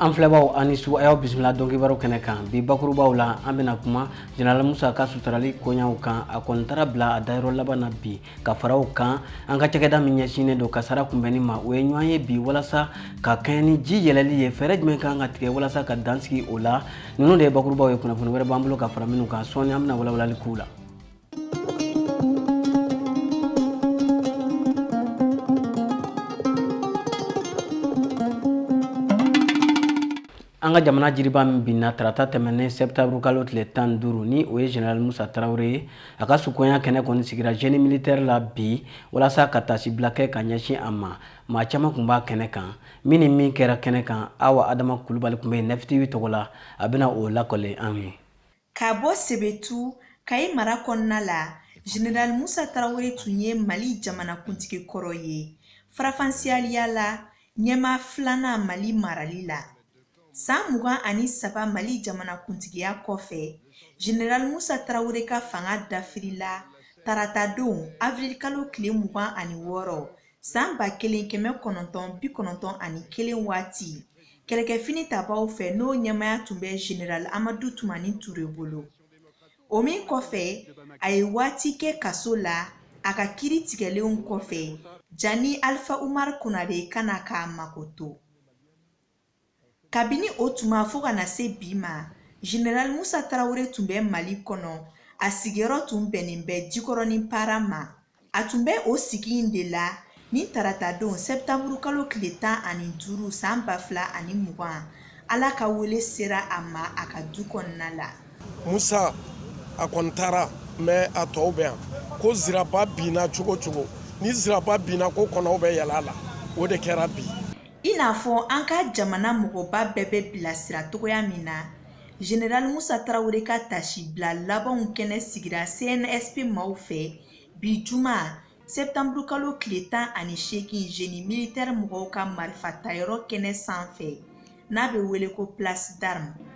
an filɛbaw aw ni su an y'aw bisimila dɔnkibaru kɛnɛ kan bi bakurubaw la an bɛna kuma jenerali musa ka sutarali koɲaw kan a kɔni taara bila a dayɔrɔ laban na bi ka fara o kan an ka cakɛda min ɲɛsinnen don kasara kunbɛnni ma u ye ɲɔgɔn ye bi walasa ka kɛɲɛ ni ji yɛlɛli ye fɛɛrɛ jumɛn kan ka tigɛ walasa ka dan sigi o la ninnu de ye bakurubaw ye kunnafoni wɛrɛ b'an bolo ka fara minnu kan sɔɔni an bɛna walawalali k'u la An ka jamana jiriba min binna tarata tɛmɛnen sɛptanburu kalo tile tan ni duuru ni o ye zenerali musa tarawele ye a ka sukoya kɛnɛ kɔni sigira zeni militeri la bi walasa ka tasibila kɛ ka ɲɛsin a ma maa caman tun b'a kɛnɛ kan min ni min kɛra kɛnɛ kan Awa adama kulubali tun bɛ yen Nɛf TV tɔgɔ la a bɛna o lakali anw ye Ka bɔ Sebetu, Kayi mara kɔnɔna la, Jeneral Musa Tarawele tun ye Mali jamanakuntigi kɔrɔ ye faranfasiyaliya la ɲɛmaa filanan Mali marali la. San mugan ani saba Mali jamanakuntigiya kɔfɛ, Jeneral Musa Tarawele ka fanga dafirila taratadon, avrilkalo tile mugan ani wɔɔrɔ, San ba kelen kɛmɛ kɔnɔntɔn bi kɔnɔntɔn ani kelen waati kɛlɛkɛfini tabaaw fɛ n'o ɲɛmaaya tun bɛ zenerali amadu tumani ture bolo o min kɔfɛ a ye waati kɛ kaso la a ka kiri tigɛlenw kɔfɛ jani alifa umar konare ka na k'a makoto kabini o tuma fo ka na se bi ma general musa tarawele tun bɛ mali kɔnɔ a sigiyɔrɔ tun bɛnnen bɛ jikɔrɔnin para ma a tun bɛ o sigi in de la ni taratadon sɛptanburu kalo tile tan ani duuru san ba fila ani mugan ala ka wele sera a ma a ka du kɔnɔna la musa a kɔni taara mɛ a tɔw bɛ yan ko ziraba binna cogo o cogo ni ziraba binna ko kɔnɔw bɛ yɛlɛ a la o de kɛra bi I n'a fɔ an ka jamana mɔgɔba bɛɛ bɛ bilasira cogoya min na Général Musa Tarawele ka tasi bila labanw kɛnɛ sigira CNSP maaw fɛ bi juma septembre kalo tile tan ani seegin génie militaire mɔgɔw ka marifa tayɔrɔ kɛnɛ sanfɛ n'a bɛ wele ko place d'armes.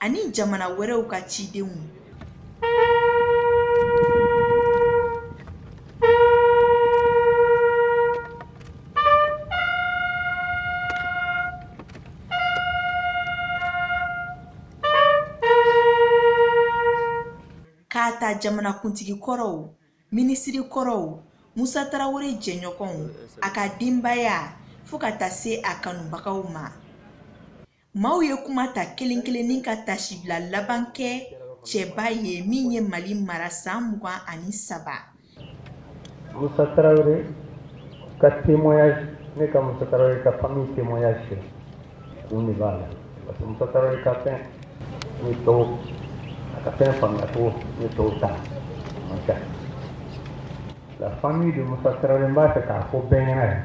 ani jamana wɛrɛw ka cidenw k'a ta jamanakuntigi kɔrɔw minisiri kɔrɔw musa tarawele jɛɲɔgɔnw a ka denbaya fo ka taa se a kanubagaw ma Maaw ye kuma ta kelen kelennin ka taasibila laban kɛ cɛba ye min ye Mali mara san mugan ani saba. Musa Tarawele ka témoignage ne ka Musa Tarawele ka famille témoignage filɛ kun de b'a la parce que Musa Tarawele ka fɛn ni tɔw a ka fɛn faamuya cogo ni tɔw ta man kan la famille de Musa Tarawele n b'a fɛ k'a fɔ bɛɛ ɲɛna yan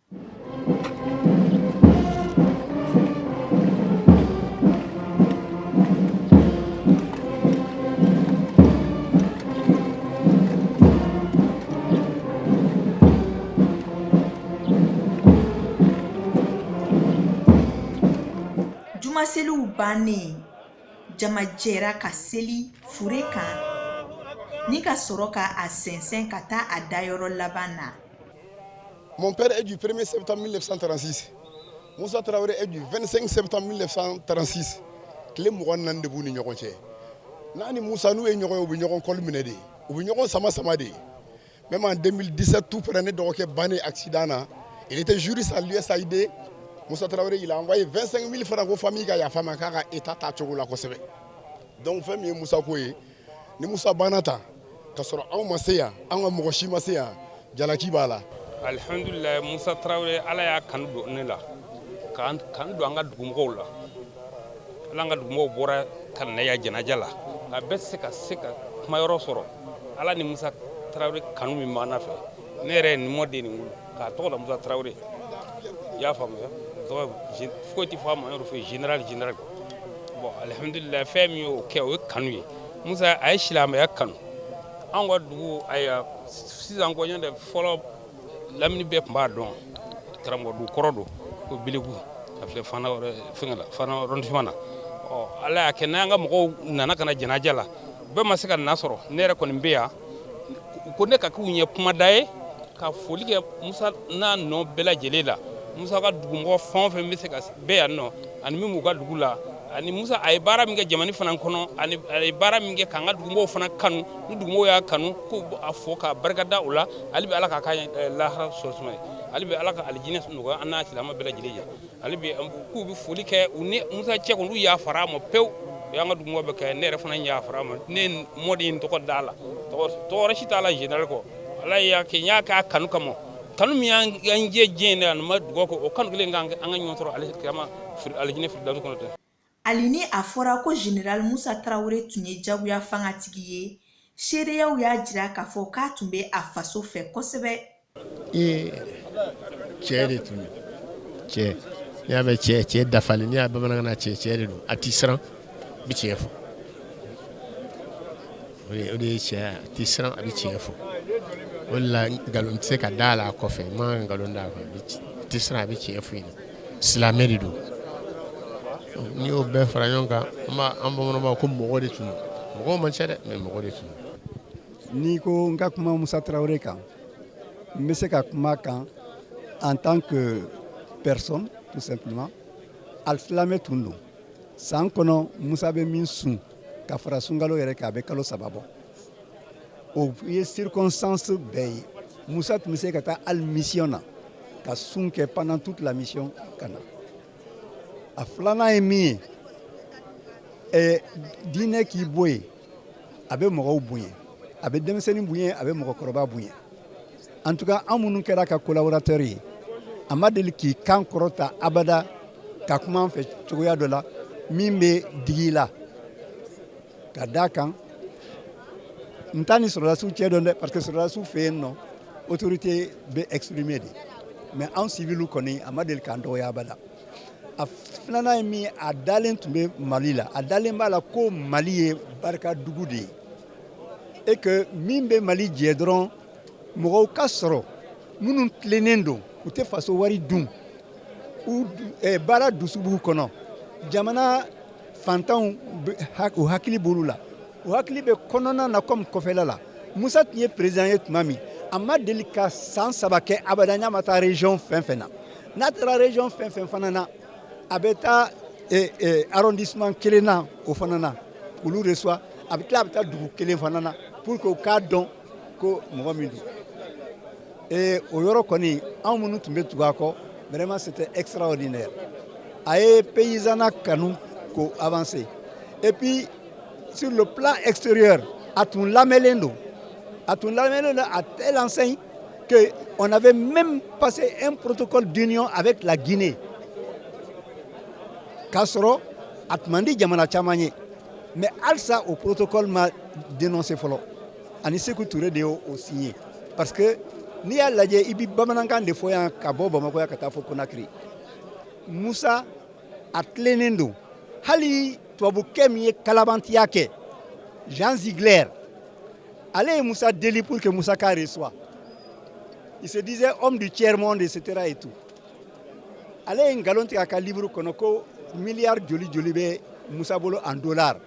Jumaseliw bannen jama jɛra ka seli fure kan ni ka sɔrɔ ka a sɛnsɛn ka taa a dayɔrɔ laban na Mon père est du 1er septembre 1936. Moussa Traoré est du 25 septembre 1936. Tile mugan ni naani de b'u ni ɲɔgɔn cɛ. N'a ni Moussa n'u ye ɲɔgɔn ye, u bɛ ɲɔgɔn kɔli minɛ de, u bɛ ɲɔgɔn sama sama de. Même en 2017 tout près ne dɔgɔkɛ bannen accident na, il était juriste à l'USAID. Moussa Traoré, il a envoyé 25 000 francs ko famille ka yafa a ma k'a ka état t'a cogo la kosɛbɛ. Donc fɛn min ye Moussa ko ye ni musa banna ta k'a sɔrɔ anw ma se yan an ka mɔgɔ si ma se yan jalaki b'a la alihamdulilayi musa tarawele ala y'a kanu don ne la k'a kanu don an ka dugumɔgɔw la ala an ka dugumɔgɔw bɔra ka na a janaja la a bɛɛ se ka se ka kuma yɔrɔ sɔrɔ ala ni musa tarawele kanu min b'an na fɛ ne yɛrɛ ye n mɔden nin wolo k'a tɔgɔ da musa tarawele i y'a faamuya tɔgɔ foyi tɛ fɔ a ma yɔrɔ fɛ général général bon alhamdulillah fɛn min y'o kɛ o ye kanu ye musa a ye silamɛya kanu an ka dugu ayiwa sisan ko nɔntɛ fɔlɔ lamini bɛɛ tun b'a dɔn karamɔgɔ dugu kɔrɔ don ko biliku a filɛ fana wɛrɛ fɛngɛ la fana arrondissement na ɔ ala y'a kɛ n'an ka mɔgɔw nana ka na janaja la bɛɛ ma se ka na sɔrɔ ne yɛrɛ kɔni bɛ yan ko ne ka k'u ɲɛ kumada ye ka foli kɛ musa n'a nɔ bɛɛ lajɛlen la musa ka dugumɔgɔ fɛn fɛn bɛ se ka bɛɛ yan nɔ ani min b'u ka dugu la ani musa a ye baara min kɛ jamana fana kɔnɔ a ye baara min kɛ k'an ka dugumɔgɔw fana kanu ni dugumɔgɔw y'a kanu k'a fo k'a barika da o la hali bi ala k'a ka lahara so suma a ye hali bi ala ka alijinɛ nɔgɔya an n'a silamɛ bɛɛ lajɛlen ye hali bi k'u bɛ foli kɛ u ni musa cɛ ko olu yafara a ma pewu o y'an ka dugumɔgɔ bɛɛ kan ne yɛrɛ fana yafara a ma ne mɔden in tɔgɔ da a la tɔgɔ si t'a la général kɔ ala y'a kɛ n y'a k'a kanu kama kanu min y'an jɛ diɲɛ in na anw bɛ dugawu kɛ o kanu kelen an ka ɲɔgɔn sɔrɔ alikiyama alijinɛ firidawusi kɔnɔ Hali ni a fɔra ko General Musa Tarawele tun ye jagoya fangatigi ye, seereyaw y'a jira k'a fɔ k'a tun bɛ a faso fɛ kosɛbɛ. Ee cɛ de tun don cɛ n'i y'a mɛn cɛ cɛ dafalen n'i y'a bamanankan na cɛ cɛ de don a tɛ siran a bɛ tiɲɛ fɔ o de o de ye cɛya ye a tɛ siran a bɛ tiɲɛ fɔ o de la nkalon tɛ se ka da a la a kɔfɛ i man kan ka nkalon da a kan a bɛ ci- a tɛ siran a bɛ tiɲɛ fɔ i ɲɛna silamɛ de don n'i y'o bɛɛ fara ɲɔgɔn kan an bamananw ko mɔgɔ de tun don mɔgɔ man ca dɛ mais mɔgɔ de tun don n'i ko n ka kuma musa tarawele kan n bɛ se ka kuma a kan en tant que personne tout simplement alisilamɛ tun don san kɔnɔ musa bɛ min sun ka fara sunkalo yɛrɛ kan a bɛ kalo saba bɔ O ye circonstance bɛɛ ye musa tun bɛ se ka taa hali mission na ka sun kɛ pendant toute la mission ka na a filanan ye min ye ɛ diinɛ k'i bɔ yen a bɛ mɔgɔw bonya a bɛ denmisɛnnin bonya a bɛ mɔgɔkɔrɔba bonya en tout cas an minnu kɛra a ka collaborateur ye a ma deli k'i kan kɔrɔta abada ka kuma an fɛ cogoya dɔ la min bɛ digi i la ka d'a kan n t'a ni sɔrɔdasiw cɛ dɔn dɛ parce que sɔrɔdasiw fɛ yen nɔ autorité bɛ exprimer de mais anw civiliw kɔni a ma deli k'an dɔgɔya abada a filanan ye min a dalen tun bɛ mali la a dalen b'a la ko mali ye barika dugu de ye et que min bɛ mali jɛ dɔrɔn mɔgɔw ka sɔrɔ minnu tilennen don u tɛ faso wari dun u eh, baara dusu b'u kɔnɔ jamana fantanw u hakili b'olu la u hakili bɛ kɔnɔna na comme kɔfɛla la musa tun ye président ye tuma min a ma deli ka san saba kɛ abada n'a ma taa région fɛn fɛn na n'a taara région fɛn fɛn fana na a bɛ taa eh, eh, arrondissement kelen na o fana na k'olu reçoit a bɛ tila a bɛ taa dugu kelen fana na pour que u k'a dɔn ko mɔgɔ min don ee o yɔrɔ kɔni anw minnu tun bɛ tugu a kɔ vraiment c'était extraordinaire a ye paysannat kanu k'o avancer et puis sur le plan extérieur a tun lamɛnlen don a tun lamɛnlen don à telle enseigne que on avait même passé un protocole d'union avec la Guinée k'a sɔrɔ a tun man di jamana caman ye mais halisa o protocole ma dénoncé fɔlɔ a ni seku ture de y'o signé parce que n'i y'a lajɛ i bɛ bamanankan de fɔ yan ka bɔ bamakɔ yan ka taa fo konakiri musa a tilennen don hali tubabukɛ min ye kalabantiya kɛ jean ziegler ale ye musa deli pour que musa k'a reçoit il se disait homme du tiers monde etc et tout ale ye nkalon tigɛ a ka livre kɔnɔ ko miliyari joli joli bɛ musa bolo en dollar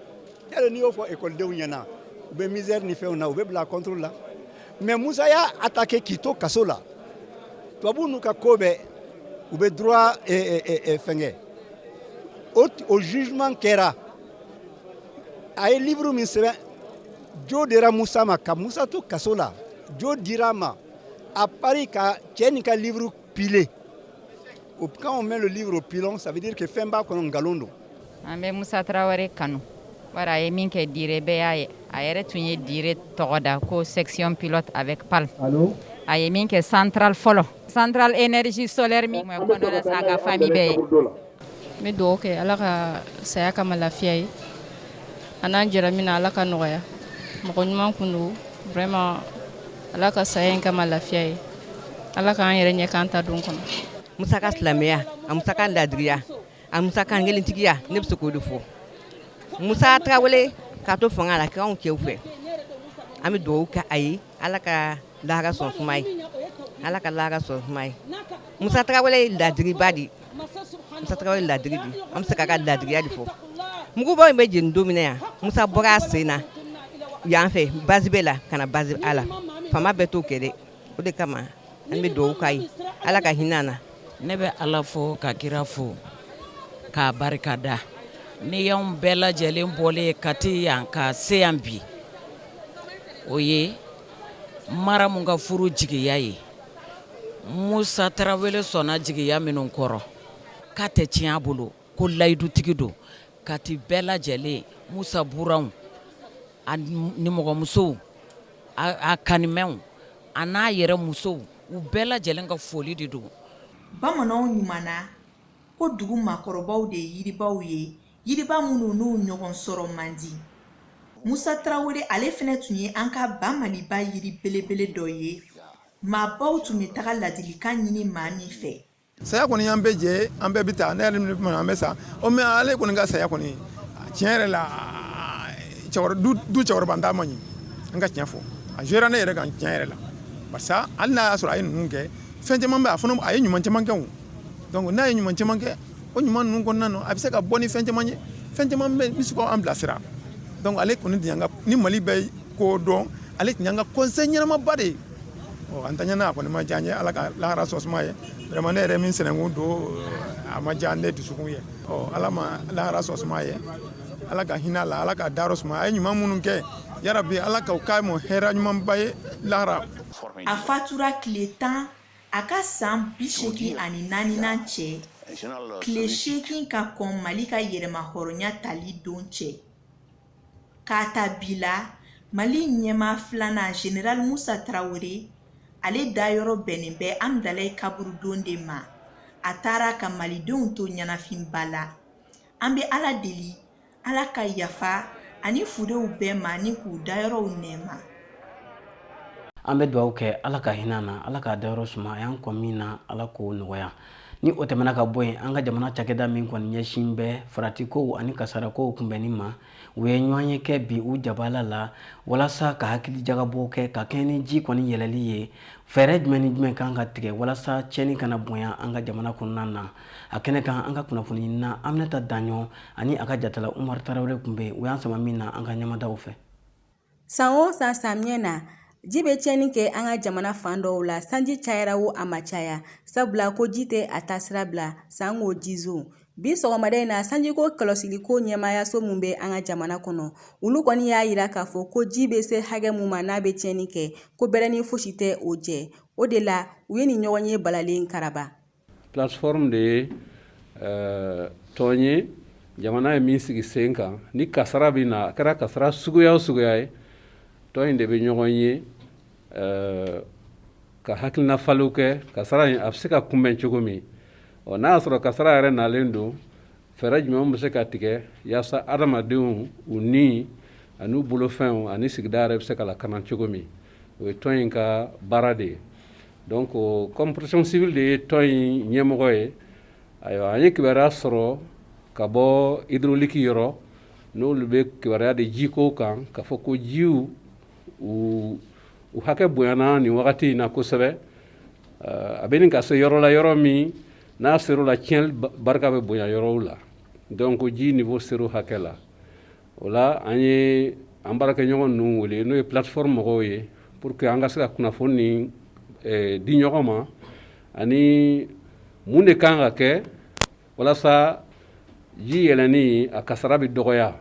yali n'i y'o fɔ ekɔlidenw ɲɛna u bɛ misère ni fɛnw na u bɛ bila contrôle la mais musa y'a attaqué k'i to kaso la tubabu n'u ka ko bɛɛ u bɛ droit eh, eh, eh, fɛnkɛ o, o jugement kɛra a ye livre min sɛbɛn jo dira musa ma ka musa to kaso la jo dira a ma à paris ka cɛ nin ka livre Pilé. Quand on met le livre au pilon, ça veut dire que fɛn b'a kɔnɔ nkalon don. An bɛ Musa Traoré kanu. Wara a ye min kɛ Diré bɛɛ y'a ye. A yɛrɛ tun ye Diré tɔgɔ da ko section pilote avec palme. A ye min kɛ centrale fɔlɔ. Centrale énergie solaire min tun bɛ Kɔndola sa a ka famille bɛɛ ye. n bɛ dugawu kɛ ala ka saya k'a ma lafiya ye a n'an jɛra min na ala ka nɔgɔya mɔgɔ ɲuman kun don vraiment ala ka saya in k'a ma lafiya ye ala k'an yɛrɛ ɲɛ k'an ta don kɔnɔ musa ka silamɛya a musa ka ladiriya a musa kankelentigiya ne bɛ se k'o de fɔ musa tarawele k'a to fanga la k'anw cɛw fɛ an bɛ dugawu kɛ a ye ala ka lahara so suma a ye ala ka lahara so suma a ye musa tarawele ye ladiriba de ye musa tarawele ladiri de an bɛ se k'a ka ladiriya de fɔ mugubon in bɛ jeni don min na yan musa bɔra a sen na yan fɛ base b la ka na base a la fama bɛɛ t'o kɛ dɛ o de kama an bɛ dugawu k'a ye ala ka hinɛ a na ne bɛ ala fo ka kira fo k'a barika da n'i y'anw bɛɛ lajɛlen bɔlen ye kati yan ka se yan bi o ye maramu ka furu jigiya ye musa tarawele sɔnna jigiya minnu kɔrɔ k'a tɛ tiɲɛ a bolo ko layidutigi don kati bɛɛ lajɛlen musa buranw a nimɔgɔmusow a kanimɛw a n'a yɛrɛ musow u bɛɛ lajɛlen ka foli de don bamananw ɲumanna ko dugu maakɔrɔbaw de ye yiribaw ye Yiriba minnu n'u ɲɔgɔn sɔrɔ man di musa tarawele ale fɛnɛ tun ye an ka ba maliba yiri belebele dɔ ye maabaw tun bɛ taga ladilikan ɲini maa min fɛ saya kɔni y'an bɛɛ jɛ an bɛɛ bɛ taa ne yɛrɛ minnu an bɛ sa o mais ale kɔni ka saya kɔni tiɲɛ yɛrɛ la du cɛkɔrɔba taa man ɲi an ka tiɲɛ fɔ a jouera ne yɛrɛ kan tiɲɛ yɛrɛ la barisa hali n'a y'a sɔrɔ a ye ninnu kɛ fɛn caman bɛ a fana a ye ɲuman caman kɛ n'a ye ɲuman caman kɛ o ɲuman ninnu kɔnɔna na a bɛ se ka bɔ ni fɛn caman ye fɛn caman bɛ se k'an bilasira donc ale kɔni ni maliba in ko don ale tun y'an ka conseil ɲɛnamaba de ye an ta ɲɛna a kɔni ma diya n ye ala ka lahara so suma a ye vraiment ne yɛrɛ min sinankun don a ma diya ne dusukun ye ɔ ala ma lahara so suma a ye ala ka hinɛ a la ala ka dayɔrɔ suma a ye ɲuman minnu kɛ yarabi ala k'o k'a ma hɛrɛ ɲumanba ye lahara a fatura tile tan a ka san bi seegin ani naaninan cɛ tile seegin ka kɔn mali ka yɛrɛmahɔrɔnya tali don cɛ k'a ta bi la mali ɲɛma filanan general musa tarawele ale dayɔrɔ bɛnnen bɛ amidalayi kaburudon de ma a taara ka malidenw to ɲɛnafinba la an bɛ ala deli ala ka yafa a ni furew bɛɛ ma ni k'u dayɔrɔw nɛɛma an bɛ dugawu kɛ ala ka hinɛ a na ala k'a dayɔrɔ suma a y'an kɔn min na ala k'o nɔgɔya ni o tɛmɛna ka bɔ yen an ka jamana cakɛda min kɔni ɲɛsin bɛ faratikow ani kasarakow kunbɛnni ma u ye ɲɔgɔnye kɛ bi u jabala la walasa ka hakilijagabɔ kɛ ka kɛɲɛ ni ji kɔni yɛlɛli ye fɛɛrɛ jumɛn ni jumɛn kan ka tigɛ walasa tiɲɛni kana bonya an ka jamana kɔnɔna na a kɛnɛ kan an ka kunnafoniɲinina aminata daɲɔ ani a ka jatala umar tarawele tun bɛ u y'an sama min na an ka ɲɛ mada o fɛ san o san samiyɛ na ji bɛ tiɲɛni kɛ an ka jamana fan dɔw la sanji cayara wo a ma caya sabula ko ji tɛ a taasira bila sanko jizo bi sɔgɔmada in na sanjiko kɔlɔsiliko ɲɛmaayaso min bɛ an ka jamana kɔnɔ olu kɔni y'a jira k'a fɔ ko ji bɛ se hakɛ mun ma n'a bɛ tiɲɛni kɛ ko bɛrɛnin fosi tɛ o jɛ o de la u ye nin ɲɔgɔnye balalen karaba plateforme de ye euh, tɔn ye jamana ye min sigi sen kan ni kasara bɛ na a kɛra kasara suguya o suguya ye tɔn in de bɛ ɲɔgɔn ye euh, ka hakilina falenw kɛ kasara in a bɛ se ka kunbɛn cogo min ɔ n'a y'a sɔrɔ kasara yɛrɛ nalen don fɛɛrɛ jumɛn bɛ se ka tigɛ yaasa adamadenw u ni an'u bolofɛnw ani sigida yɛrɛ bɛ se ka lakana cogo min o ye tɔn in ka baara de ye donc comme protection civile de ye tɔn in ɲɛmɔgɔ ye ayiwa an ye kibaruya sɔrɔ ka bɔ hydraulique yɔrɔ n'olu bɛ kibaruya di jiko kan k'a fɔ ko jiw u u hakɛ bonyana nin wagati in na kosɛbɛ a bɛ ɲini ka se yɔrɔ la yɔrɔ min N'a ser'o la tiɲɛ barika bɛ bonya yɔrɔw la donc ji niveau ser'o hakɛ la o la an ye an baarakɛɲɔgɔn ninnu wele n'o ye plateforme mɔgɔw ye pour que an ka se ka kunnafoni di ɲɔgɔn ma ani mun de kan ka kɛ walasa ji yɛlɛni a kasara bɛ dɔgɔya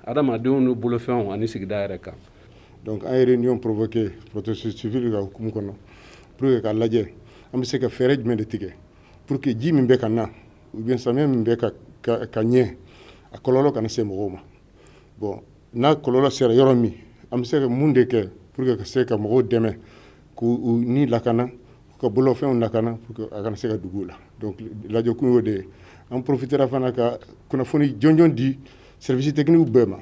Adamadenw n'u bolofɛnw ani sigida yɛrɛ kan. Donc an ye réunion provoquée protection civile ka hukumu kɔnɔ pour que k'a lajɛ an bɛ se ka fɛɛrɛ jumɛn de tigɛ pour que ji min bɛ ka na ou bien samiyɛ min bɛ ka ka ɲɛ a kɔlɔlɔ kana se mɔgɔw ma bon n'a kɔlɔlɔ sera yɔrɔ min an bɛ se ka mun de kɛ pour que ka se ka mɔgɔw dɛmɛ k'u ni lakana ka bolofɛnw lakana pour que a kana se ka digi u la donc lajɛkun y'o de ye an profitera fana ka kunnafoni jɔnjɔn di Service techniquew bɛɛ ma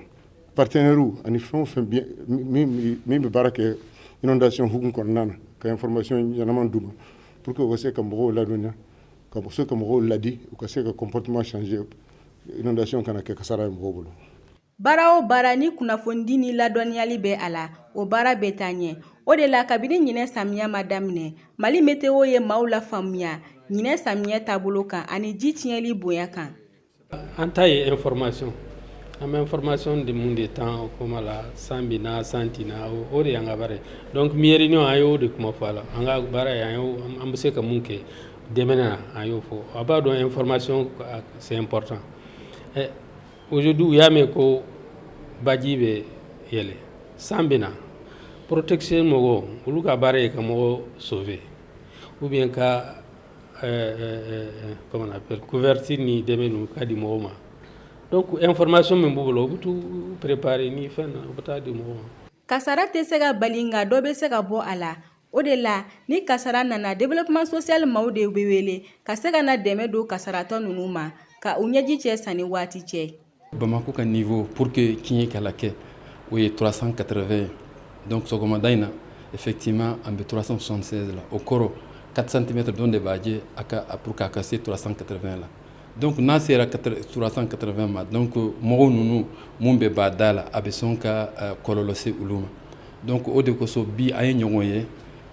partenairew ani fɛn o fɛn min bɛ baara kɛ inondation hukumu kɔnɔna na ka information ɲɛnaman d'u ma pour que u ka se ka mɔgɔw ladɔnniya ka se ka mɔgɔw ladi u ka se ka comportement changer inondation kana kɛ kasara ye mɔgɔw bolo baara o baara ni kunnafonidi ni ladɔnniyali bɛ a la o baara bɛ taa ɲɛ o de la kabini ɲinan samiya ma daminɛ Mali météo ye maaw lafaamuya ɲinan samiyɛ taabolo kan ani ji tiɲɛnli bonya kan An ta ye information an bɛ information di mun de temps o kuma la san bɛ na san tɛ na o de y'an ka baara ye donc bi réunion an y'o de kuma fɔ a la an ka baara ye an bɛ se ka mun kɛ dɛmɛni na an y'o fɔ a b'a dɔn information c'est important ɛ aujourd'hui u y'a mɛn ko baji bɛ yɛlɛ san bɛ na protection mɔgɔw olu ka baara ye ka mɔgɔ sauver ou bien ka Couverture ni dɛmɛ ka di mɔgɔw ma information min b'u bolo u bɛ taa préparer ni fɛn u bɛ taa di mɔgɔw ma kasara tɛ se ka bali nka dɔ bɛ se ka bɔ a la o de la ni kasara nana développement social maaw de bɛ wele ka se ka na dɛmɛ don kasaratɔ ninnu ma ka u ɲɛji cɛ sanni waati cɛ Bamakɔ ka nin fɔ pour que kin ye kala kɛ o ye turasan katara ye dɔnda in na e fɛ k'i ma an bɛ turasan son la o kɔrɔ katitɛmɛ dɔn de b'a jɛ a ka a ka ka se turasan kata la don tun n'a sera turasan katara ma dɔn ko mɔgɔw ninnu minnu bɛ ba da la a bɛ sɔn ka kɔlɔlɔsi olu ma dɔn o de kosɔn bi a ye ɲɔgɔn ye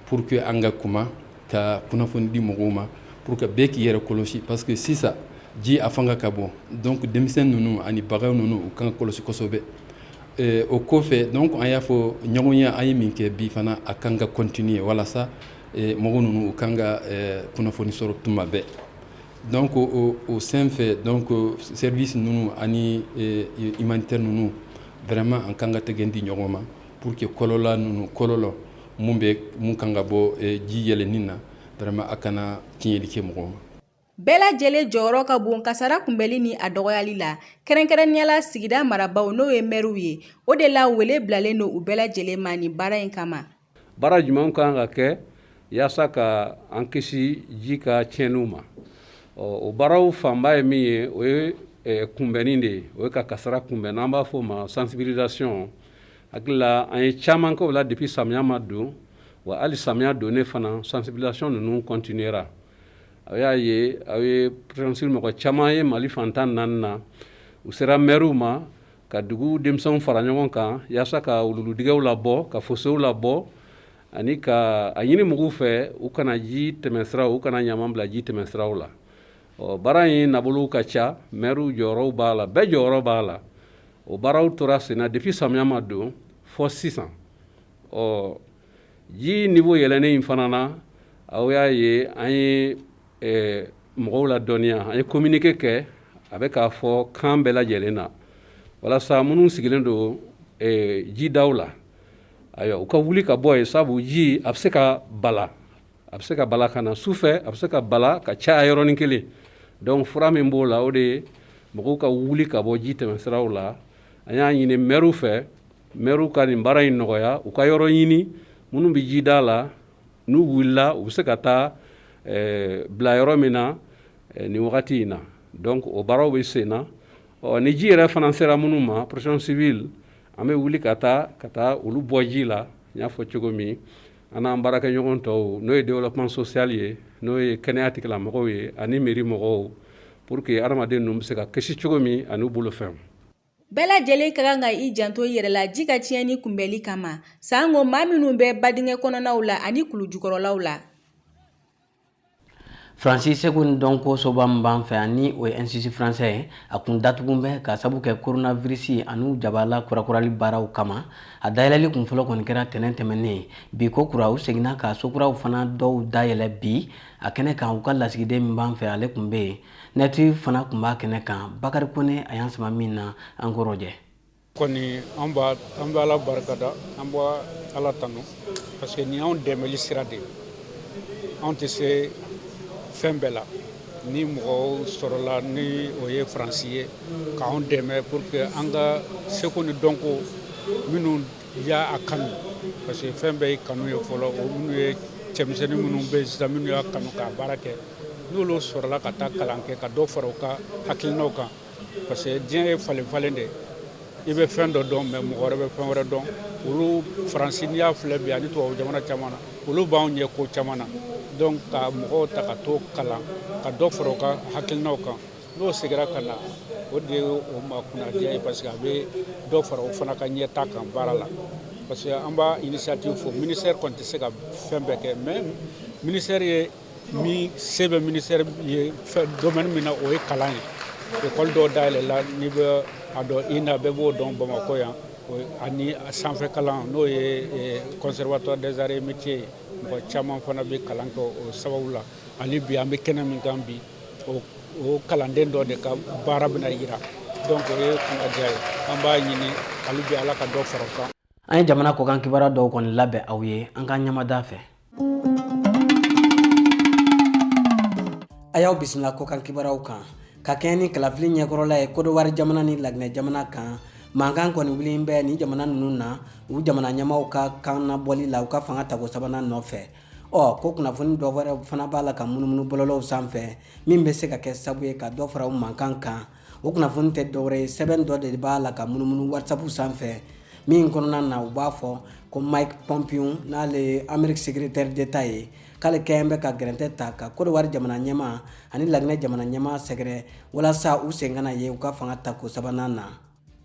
pour que an ka kuma ka kunnafoni di mɔgɔw ma pour que bɛɛ k'i yɛrɛ kɔlɔsi parce que sisan ji a fanga ka bon donc denmisɛn ninnu ani bagan ninnu u kan ka kɔlɔsi kosɛbɛ eh, o kɔfɛ donc an y'a fɔ ɲɔgɔnye an ye min kɛ bi fana a kan ka continuer walasa eh, mɔgɔ ninnu u kan ka eh, kunnafoni sɔrɔ tuma bɛɛ donc o, o sen fɛ donc service ninnu ani eh, humanitaire ninnu vraiment an kan ka tɛgɛ di ɲɔgɔn ma Pour que kɔlɔlɔ ninnu kɔlɔlɔ mun bɛ mun kan ka bɔ eh, ji yɛlɛnni na vraiment a kana tiɲɛli kɛ mɔgɔ ma. Bɛɛ lajɛlen jɔyɔrɔ ka bon kasara kunbɛli ni a dɔgɔyali la kɛrɛnkɛrɛnnenya la sigida marabaw n'o ye mɛriw ye o de la wele bilalen don u bɛɛ lajɛlen ma nin baara in kama baara jumɛnw kan ka kɛ yaasa ka an kisi ji ka tiɲɛniw ma o baaraw fanba ye min ye o ye eh, kunbɛnni de ye o ye ka kasara kunbɛn n'an b'a fɔ o ma sensibilisation hakili la an ye caman kɛ o la depuis samiya ma don wa hali samiya donnen fana sensibilisation ninnu continuera a y'a ye aw ye psi mɔgɔ caman ye Mali fan tan ni naani na u sera mɛriw ma ka dugu denmisɛnw fara ɲɔgɔn kan yaasa ka wuluwuludingɛw labɔ ka fosow labɔ ani ka a ɲini mɔgɔw fɛ u kana ji tɛmɛsira u kana ɲama bila ji tɛmɛsiraw la ɔ baara in na bolow ka ca mɛriw jɔyɔrɔw b'a la bɛɛ jɔyɔrɔ b'a la o baaraw tora senna depuis samiya ma don fɔ sisan ɔ ji niveau yɛlɛnnen in fana na aw y'a ye an ye eh, mɔgɔw ladɔnniya an ye communiqué kɛ a bɛ ka fɔ kan bɛɛ lajɛlen na walasa minnu sigilen don eh, jidaw la ayiwa u ka wuli ka bɔ yen sabu ji a bɛ se ka bala a bɛ se ka bala ka na su fɛ a bɛ se ka bala ka caya yɔrɔnin kelen donc fura min b'o la o de ye mɔgɔw ka wuli ka bɔ ji tɛmɛsiraw la an y'a ɲini mɛriw fɛ mɛriw ka nin baara in nɔgɔya u ka yɔrɔ ɲini minnu bɛ ji da la n'u wulila u bɛ se ka taa eh, bila yɔrɔ min na eh, nin wagati in na donc o baaraw bɛ sen na ɔ ni ji yɛrɛ fana sera minnu ma protection civile an bɛ wuli ka taa ka taa olu bɔ ji la n y'a fɔ cogo min An n'an baarakɛɲɔgɔn tɔw n'o ye développement social ye n'o ye kɛnɛya tigilamɔgɔw ye ani mairie mɔgɔw pour que hadamaden ninnu bɛ se ka kisi cogo min an'u bolofɛnw. Bɛɛ lajɛlen ka kan ka i janto i yɛrɛ la ji ka tiɲɛni kunbɛli kama. Sango maa minnu bɛ badingɛ kɔnɔnaw la ani kulujukɔrɔlaw la, Faransi seko ni dɔnko soba min b'an fɛ ani o ye institut français ye a kun datugulen bɛ k'a sabu kɛ coronavirus ani u jabala kurakurali baaraw kama a dayɛlɛli kun fɔlɔ kɔni kɛra tɛnɛn tɛmɛnen bi ko kura u seginna ka so kuraw fana dɔw dayɛlɛ bi a kɛnɛ kan u ka lasigiden min b'an fɛ ale kun bɛ yen ministre fana kun b'a kɛnɛ kan bakari kɔnɛ a y'an sama min na an k'o rɔjɛ kɔni an b'a an bɛ ala barika da an bɛ ala tanu parce que ni anw dɛmɛli sira de anw tɛ se fɛn bɛɛ la ni mɔgɔw sɔrɔla ni o ye faransi ye k'an dɛmɛ pour que an ka seko ni dɔnko minnu y'a kanu parce que fɛn bɛɛ ye kanu ye fɔlɔ o minnu ye cɛmisɛnnin minnu bɛ yen sisan minnu y'a kanu k'a baara kɛ n'olu sɔrɔla ka taa kalan kɛ ka dɔ fara u ka hakilinaw kan parce que diɲɛ ye falen falen de i bɛ fɛn dɔ dɔn mais mɔgɔ wɛrɛ bɛ fɛn wɛrɛ dɔn olu faransi n'i y'a filɛ bi ani tubabu jamana caman na olu b'anw ɲɛ ko caman na donc ka mɔgɔw ta ka t'o kalan ka dɔ fara u ka hakilinaw kan n'o segira ka na o de ye o ma kunnadiya ye parce que a bɛ dɔ fara o fana ka ɲɛtaa kan baara la parce que an b'a initiative fɔ ministère kɔni tɛ se ka fɛn bɛɛ kɛ mais ministère ye min se bɛ ministère ye domaine min na o ye kalan ye école dɔw dayɛlɛla n'i bɛ a dɔn INA bɛɛ b'o dɔn bamakɔ yan ani sanfɛ kalan n'o ye conservatoire des arts et métiers ye mɔgɔ caman fana bɛ kalan kɛ o sababu la hali bi an bɛ kɛnɛ min kan bi o kalanden dɔ de ka baara bɛna yira donc o ye kunnadiya ye an b'a ɲini hali bi ala ka dɔ fara a kan an ye jamana kɔkan kibaruya dɔw kɔni labɛn aw ye an ka ɲamada fɛ a y'aw bisimila kɔkan kibaruyaw kan ka kɛɲɛ ni kalafili ɲɛkɔrɔla ye kodowari jamana ni laginɛ jamana kan mankan kɔni wulilen bɛ nin jamana ninnu na u jamana ɲɛmaaw ka kan nabɔli la u ka fanga tako sabanan nɔfɛ ɔ ko kunnafoni dɔ wɛrɛ fana b'a la ka munumunu bɔlɔlɔw sanfɛ min bɛ se ka kɛ sabu ye ka dɔ fara u mankan kan o kunnafoni tɛ dɔwɛrɛ ye sɛbɛn dɔ de b'a la ka munumunu whatsapp sanfɛ min kɔnɔna na u b'a fɔ ko mike pompeo n'ale ye amerique secrétaire d'état ye k'ale kɛlen bɛ ka gɛrɛntɛ ta ka kodowari jamana ɲɛmaa ani laginɛ jamana ɲɛmaa sɛgɛrɛ walasa u sen kana ye u ka fanga tako sabanan na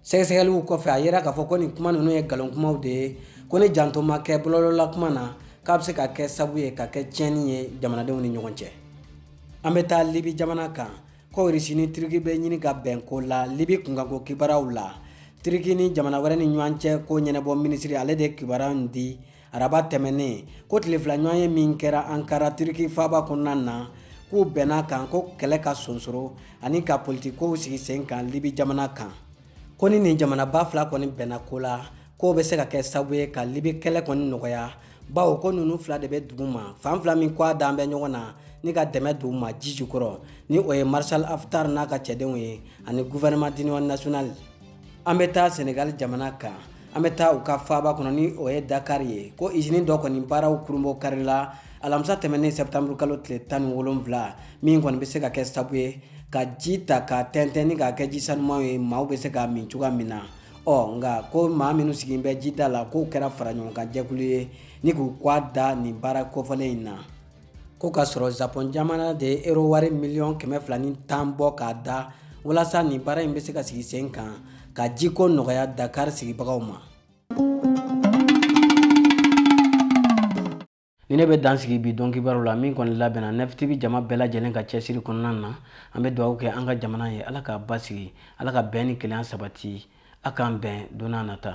sɛgɛsɛgɛliw kɔfɛ a yera k'a fɔ ko nin kuma ninnu ye nkalon kumaw de ye ko ni janto ma kɛ bɔlɔlɔla kuma na k'a bɛ se ka kɛ sabu ye ka kɛ tiɲɛni ye jamanadenw ni ɲɔgɔn cɛ an bɛ taa libi jamana kan Ko Russie ni Turki bɛ ɲini ka bɛn ko la Libye kunkanko kibaruyaw la, Turki ni jamana wɛrɛ ni ɲɔgɔn cɛ ko ɲɛnabɔ minisiri ale de ye kibaruya in di araba tɛmɛnen, ko tile fila ɲɔgɔnye min kɛra Ankara Turki faaba kɔnɔna na, k'u bɛnna kan ko kɛlɛ ka sonsoro ani ka politikikow sigi sen kan Libye jamana kan. ko ni nin jamanaba fila kɔni bɛnna ko la k'o bɛ se ka kɛ sabu ye ka libi kɛlɛ kɔni nɔgɔya bawo ko ninnu fila de bɛ dugu ma fan fila min kɔgɔ dalen bɛ ɲɔgɔn na ni ka dɛmɛ d'u ma ji jukɔrɔ ni o ye maréchal haftar n'a ka cɛdenw ye ani gouvernement d'union nationale an bɛ taa senegal jamana kan an bɛ taa u ka faaba kɔnɔ ni o ye dakar ye ko izini dɔ kɔni baaraw kurunbonkarila alamisa tɛmɛnen sɛptanburu kalo tile tan ni wolonwula min kɔni bɛ se ka kɛ sabu ye ka ji ta ka tɛntɛn ni k'a kɛ ji sanumanw ye maaw bɛ se k'a min cogoya min na ɔ nka ko maa minnu sigilen bɛ jida la k'u kɛra faraɲɔgɔnkan jɛkulu ye ni k'u kɔgɔ da nin baara kofɔlen in na Ko k'a sɔrɔ Japon jamana de ye euro wari miliyɔn kɛmɛ fila ni tan bɔ k'a da walasa nin baara in bɛ se ka sigi sen kan ka jiko nɔgɔya Dakar sigibagaw ma. Nin de bɛ dan sigi bi don kibaru la min kɔni labɛnna Neuf TV jama bɛɛ lajɛlen ka cɛsiri kɔnɔna na an bɛ dugawu kɛ an ka jamana ye ala k'a basigi ala ka bɛn ni kelenya sabati a k'an bɛn don n'a nata